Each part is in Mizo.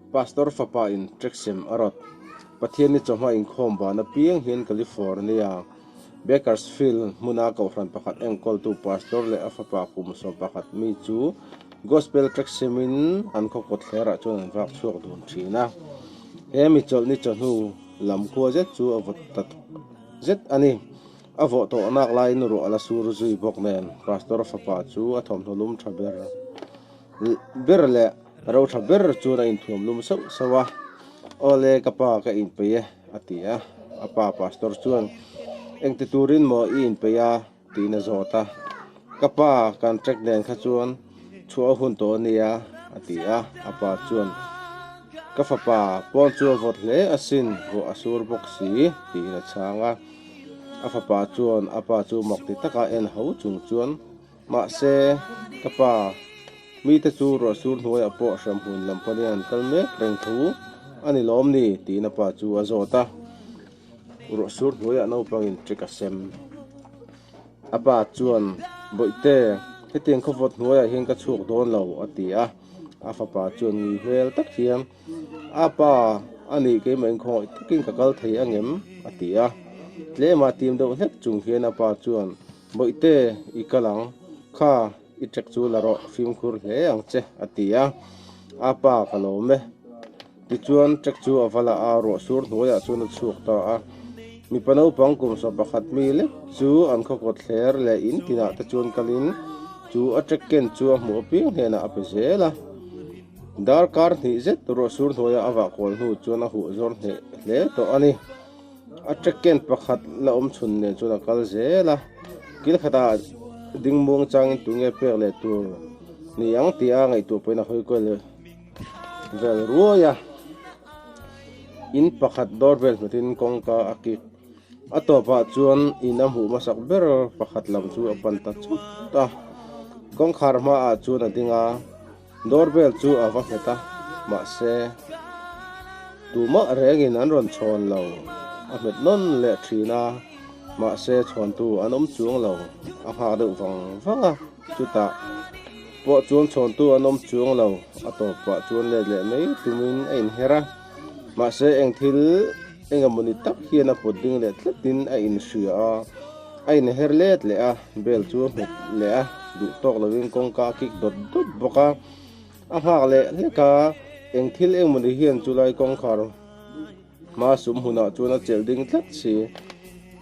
Pastor fapa in Treksem a rawt. Pathian ni chawhma inkhawm ban apiang hian California, Bakersfield hmuna kohhran pakhat enkawltu Pastor leh a fapa kum sawm pakhat mi chu Gospel Treksem in an khaw kawt thlerah chuan an vak chhuak dun thin a. He mi chawlh ni chawhnu. Lam khua zet chu a vut ta zet a ni. A vawh tawh nak laiin ruah a la sur zui bawk nen Pastor fapa chu a thawmhnaw lum tha ber ber leh ro tha ber chuan a inthuam lum sauh sauh a, Awle ka pa ka inpeih e, a ti a. A pa Pastor chuan, Engti turin maw i inpeih a? Tiin a zawt a. Ka pa kan trek nen kha chuan chhuah a hun tawh a nia, a ti a. A pa chuan, Ka fapa pawn chu a vawt hle asin, ruah a sur bawk si, tiin a chhang a. A fapa chuan a pa chu mak ti taka en ho chung chuan, Mahse, ka pa, mite chu ruah sur hnuaiah pawh hrem hun lam panin an kal mek reng thu a ni lawm ni? tiin a pa chu a zawt a. Ruah sur hnuaiah naupangin trick a sem. A pa chuan, Bawihte, hetiang khaw vawt hnuaiah hian ka chhuak dawn lo, a ti a. A fapa chuan, Ngi hmel tak hian a pa a nih keimah in khawngawih takin ka kal thei ang em? a ti a. Tlema tim deuh hlek chung hian a pa chuan, Bawihte, i kal ang kha, i trick chu la rawh, fimkhur hle ang che, a ti a. A pa, Ka lawm e. Tichuan, Jack chu a va la a, ruahsur hnuaiah chuan a chhuak ta a. Mipa naupang kumsa pakhat mi lek chu an khaw kawt thler leh in tinah te chuan kalin chu a Jack ken chu a hmuh apiang hnenah a pe zel a. Dar kar hnih zet ruahsur hnuaia a vah kual hnu chuan a huh zawr hneh hle tawh a ni. A Jack ken pakhat la awm chhun nen chuan a kal zel a, kil khatah dingmuang changin tunge pek leh tur ni ang tia ngaihtuah pahin a hawi kual. Vel ruai a, in pakhat dawr vel hmetin kawngka a kik. A tawpah chuan in a hmuh hmasak ber pakhat lam chu a pan ta chut a. Kawngkhar hmaah chuan a ding a, dawr vel chu a va hmet a, mahse, tumah rengin an rawn chhawn lo. A hmet nawn leh thin a, mahse chhawntu an awm chuang lo, a nghak deuh vang vang a chutah. Pawh chuan chhawntu an awm chuang lo, a tawp pah chuan let leh mai tumin a inher a. Mahse eng thil eng emaw ni tak hian a pawt ding leh tletin a inhria a, a inher let leh a, bel chu a hmuk leh a, duh tawk lovin kawngka a kik dawt dawt bawk a, a nghak leh hlek a, eng thil eng maw ni hian chulai kawngkhar. Hma sum hunah chuan a chelh ding tlat si.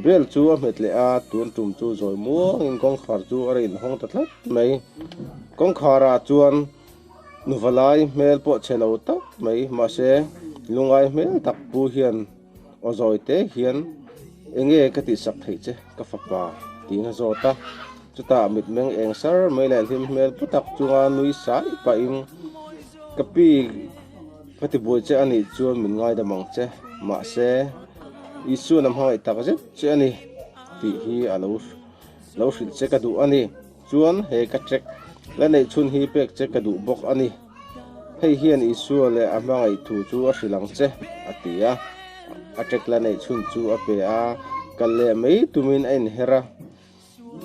Bel chu a hmet leh a, tun tum chu zawi muangin kawngkhar chu a rain hawng ta tlat mai. Kawngkharah chuan nuva lai hmel pawh che lo tak mai. Mahse, lungai hmel tak pu hian aw zawite hian, Enge ka tihsak theih che ka fapa? tiin a zawt a. Chutah mitmeng eng sar mai leh hlim hmel putak chunga nui sai pahin, Ka pi, ka tibuai che a nih chuan min ngaidam ang che. Mahse, Isua na hmangaih tak zet che a ni tih hi a lo lo hrilh che ka duh a ni. Chuan he ka check la neih chhun hi pek che ka duh bawk a ni. Hei hian Isua leh a hmangaih thu chu a hrilh ang che, a ti a. A check la neih chhun chu a pe a, kal leh mai tumin a inher a.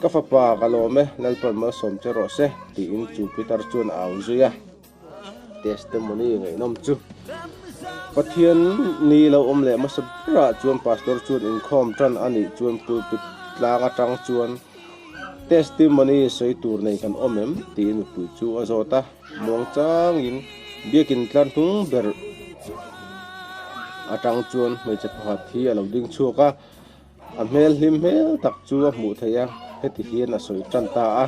Ka fapa, ka lawm e, Lalpawn malsawm che rawh se, tiin chu Pitar chuan a au zui a. Testimony ngaihnawm chu Pathian ni lo awm leh hmasa berah chuan Pastor chuan inkhawm tan a nih chuan pulpit tlang atang chuan Testimony sawi tur nei kan awm em? tiin mipui chu a zawt a, muang changin biakin tlar hnung ber atang chuan hmeichhe pakhat hi a lo ding chhuak a. A hmel hlim hmel tak chu a hmuh theih a, heti hian a sawi tan ta a,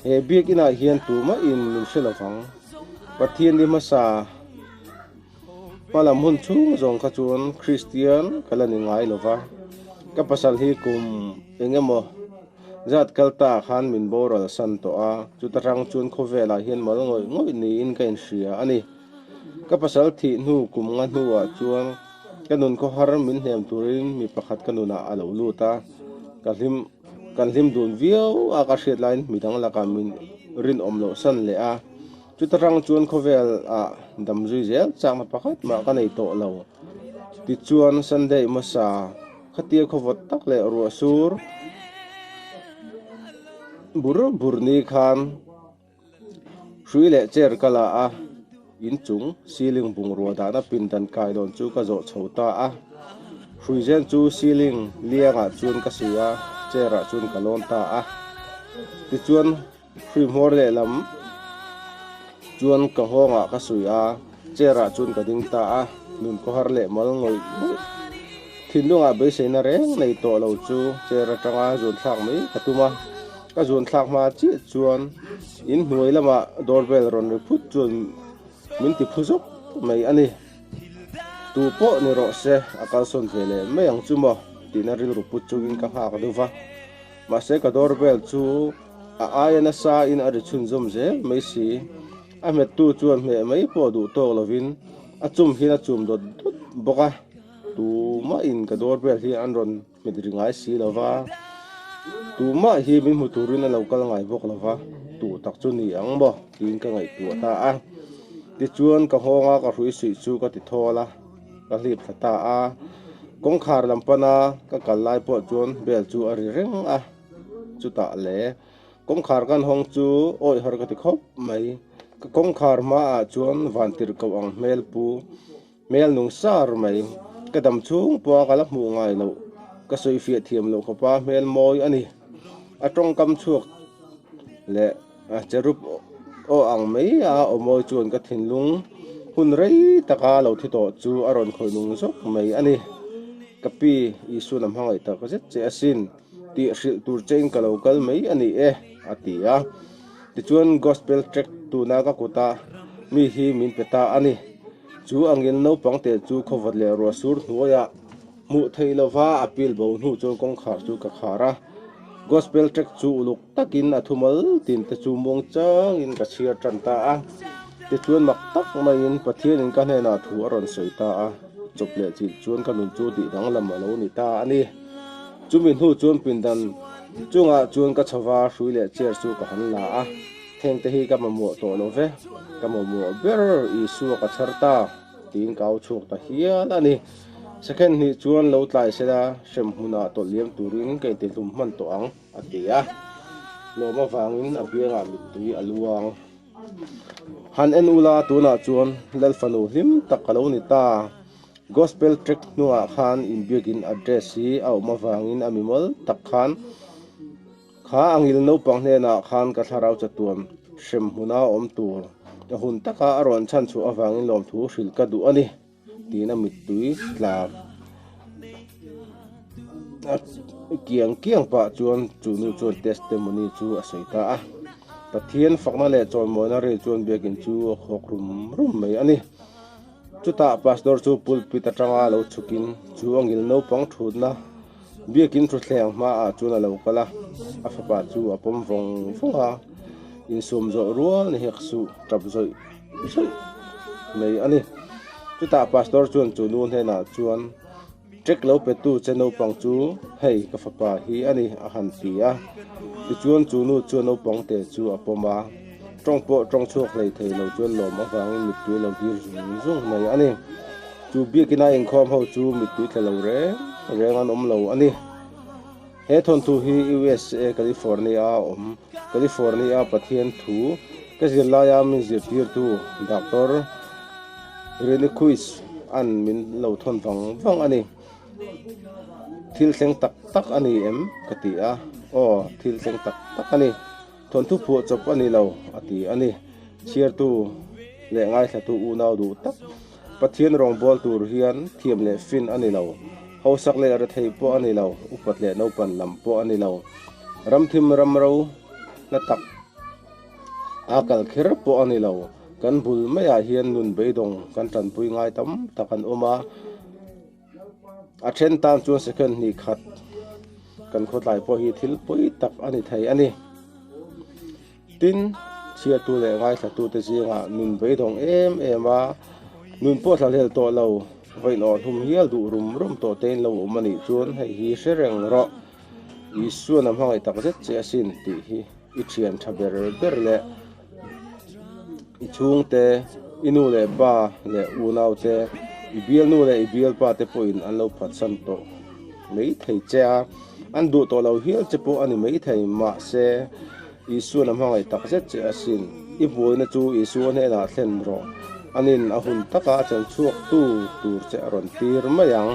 He biakinah hian tumah in min hre lovang, Pathian ni hmasa hmalam hun chhung zawng kha chuan Kristian ka la ni ngai lo va, ka pasal hi kum eng emaw zat kal ta khan min boral san tawh a, chuta hrang chuan khawvelah hian mal ngawih ngawih niin ka inhria a ni. Ka pasal thih hnu kum nga hnuah chuan ka nun khawhar min hnem turin mi pakhat ka nunah a lo lut a. Ka hlim kan hlim dun viau a ka hriat laiin midang lakah min rinawm lohsan leh a. Chuta tang chuan khawvelah damzui zel chakna pakhat mah ka nei tawh lo. Tichuan Sunday hmasa khatia khawvawt tak leh ruahsur bur bur ni khan. Hrui leh chair ka la a, inchung ceiling bungrua dahna pindan kai dawn chu ka zawh chho ta a. Hrui zen chu ceiling liangah chuan ka si a, chair ah chuan ka lawn ta a. Tichuan hrui hmawr lehlam chuan ka nghawngah ka sawi a. Chair ah chuan ka ding ta a, nun kawhar leh malngawih thinlungah beiseina reng nei tawh lo chu chair atanga zuan thlak mai ka tum a. Ka zuan thlak hma chiah chuan in hnuai lamah door bell rawn ring phut chuan min ti phu zawk mai a ni. Tu pawh ni rawh se a kalsawn ve leh mai ang chu maw tihna rilru put chungin ka nghak dup a. Mahse ka door bell chu a aia nasa in a ri chhunzawm zel mai si. A hmettu chuan hmeh mai pawh duh tawk lovin a chum hian a chum dawt dawt bawk a, Tumahin ka doorbell hi an rawn hmet ri ngai si lo va, tumah hi min hmu turin a lo kal ngai bawk lo va, duh tak chu ni ang maw tiin ka ngaihtuah ta a, tichuan ka nghawngah ka hrui suih chu ka ti thawl a, ka hlip thla ta a, kawngkhar lam pana ka kal lai pawh chuan bell chu a ri reng a, chutah le. Kawngkhar kan hawng chu awih har ka ti khawp mai. Ka kawngkhar hmaah chuan vantir koh ang hmel pu, hmel nung sar mai. Ka dam chhung pawha ka la hmuh ngai loh, ka sawi fiah thiam loh khawp a, hmel mawi a ni. A tawngkam chhuak leh a che rup awh ang mai a awmawi chuan ka thinlung hun rei taka lo thi tawh chu a rawn khawih nung zawk mai a ni. Ka pi, Isuna hmangaih tak zet che asin. tih hrilh tur che in ka lo kal mai a ni e a ti a, tichuan gospel tract tuna ka kut a, mi hi min pe ta a ni. Chu angin naupang te chu khawvawt leh ruah sur hnuaia hmuh theih lova appeal bo hnu chuan kawngkhar chu ka khar a, gospel tract chu uluk. Takin a thumal tin te chu muang changin ka chhiar tan ta a, tichuan mak tak maiin Pathianin ka hnenah thu a rawn sawi ta a, chawp leh chilh chuan ka nun chu dih dang lam a lo ni ta a ni. Chumi hnu chuan pindan chungah chuan ka chhava hrui leh chair chu ka han la a, theng te hi ka mamawh tawh lo ve, ka mamawh ber Isua ka chhar ta tiin ka au chhuak ta hial a ni. Second hnih chuan lo tlai sela hrem hmunah tawlh liam turin ka intihlum hman tawh ang. A ti a, hlawm avangin a biangah mittui a luang. Han en ula tunah chuan lalfanu hlim tak a lo ni ta. Gospel tract hnungah khan inbiakin address hi a awm avangin a mimawl tak khan kha a ngil naupang hnenah khan ka thlarau chatuam hrem hmuna awm tur ka hun taka a rawn chhan chhuah avangin lawmthu hrilh ka duh a ni. tihna mittui tlak a kiang kiang pah chuan chu nu chuan testimony chu a sawi ta a, Pathian fakna leh chawnmawina rei chuan biakin chu a khawk rum rum mai a ni. Chutah pastor chu pulpit atanga lo chhukin chu a ngil naupang thutna. Biakin thuthleng hmaah chuan a lo kal a, a fapa chu a pawm vawng vawng a, insum zawh rual ni hek suh tap zawih zawih mai a ni. Chutah Pastor chuan chu nu hnenah chuan, Trek lo petu che naupang chu hei ka fapa hi a ni, a han ti a. Tichuan chu nu chuan naupangte chu a pawm a, Tawng pawh tawng chhuak hlei thei lo chuan lawm avangin mittui lo hlir zung zung mai a ni. Chu biakin a inkhawm ho chu mittui tla lo reng reng an awm lo a ni. He thawnthu hi usa California a awm. California a Pathian thu ka zir laia min zirtirtu Doctor Rehnquist a'n min lo thawn vang vang a ni. Thil thleng tak tak a ni em? ka ti a. Aw, thil thleng tak tak a ni. Thawnthu phuah chawp a ni lo, a ti a ni. Chhiartu leh ngaithlatu unau duh tak Pathian rawngbâwl tur hian thiam leh fin a ni lo. Hausak leh rethei pawh a ni lo, upat leh naupan lam pawh a ni lo. Ramthim ramro hla tak a kal kher pawh a ni lo. Kan bul maiah hian nun beidawng kan ṭanpui ngai tam tak an awm a. A then tan chuan second hnih khat kan khawtlai pawh hi thil pui tak a ni thei a ni. Tin, chhiatu leh ngaihlatute zingah nun beidawng em em a, nun pawh thla hlel tawh lo, vawiinawh hlum hial duh rum rum tawh tein lo awm a nih chuan hei hi hre reng rawh. Isua-na hmangaih tak zet che asin tih hi i thian tha ber ber leh. I chhungte, i nu leh pa leh unaute, i bialnu leh i bialpa te pawhin an lo phatsan tawh mai thei che a, an duh tawh lo hial che pawh a ni mai thei. Mahse, Isua-na hmangaih tak zet che asin. I buaina chu Isua hnenah thlen rawh. An in a hun taka a chanchhuaktu tur che a rawn tir mai ang.